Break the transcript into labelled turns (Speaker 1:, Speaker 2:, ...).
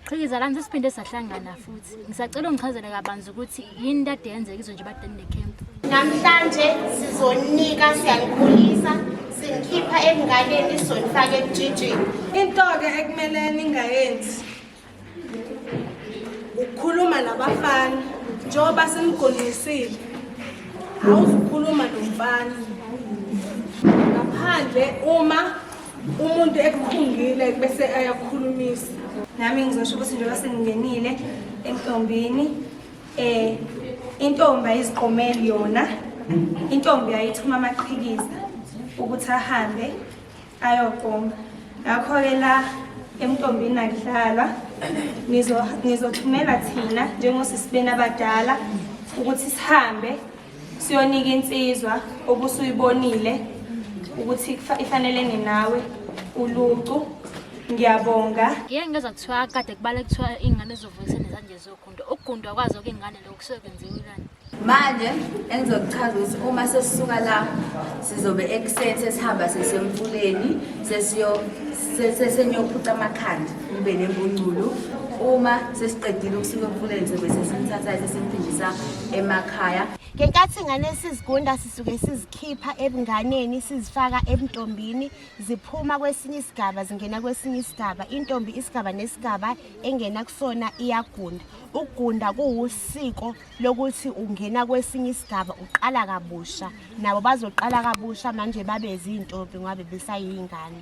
Speaker 1: Qhikiza lami sesiphinde sahlangana futhi. Ngisacela ungichazele kabanzi ukuthi yini kade yenzeka izwe nje badeni necamp. Namhlanje
Speaker 2: sizonika siyanikhulisa sinikhipha ekunganeni sizonifaka ekujijini. Into-ke
Speaker 3: ekumele ningayenzi ukukhuluma nabafana njengoba simgonqisile awuzukhuluma nomfana ngaphandle uma umuntu ekukhungile bese ayakukhulumisa nami ngizosho
Speaker 4: ukuthi njengoba sengingenile entombini eh intombi ayiziqomeli yona intombi ayithuma amaqhikiza ukuthi ahambe ayogoma ngakho-ke la emntombini akudlalwa nizothumela thina njengosisibeni abadala ukuthi sihambe siyonika insizwa obusuyibonile ukuthi ifanelene nawe ulucu ngiyabonga ngeke ngezwa kuthiwa
Speaker 1: kade kubale kuthiwa iy'ngane zizovuyisa nezanje zogundo ukugundwa kwazo kuy'ngane lokhu kusuke kwenziwe kani manje
Speaker 5: engizokuchaza ukuthi uma sesisuka la sizobe ekuseni sesihamba sesemfuleni sesenyophuca amakhanda kube nembunculu uma sesiqedile ukusuka emfuleni sobe sesimthathayo sesimphindisa emakhaya ngenkathi ingane
Speaker 2: sizigunda sisuke sizikhipha ebunganeni sizifaka ebuntombini ziphuma kwesinye isigaba zingena kwesinye isigaba intombi isigaba nesigaba engena kusona iyagunda ukugunda kuwusiko lokuthi ungena kwesinye isigaba uqala kabusha nabo bazoqala kabusha manje babe zintombi ngoba besayingane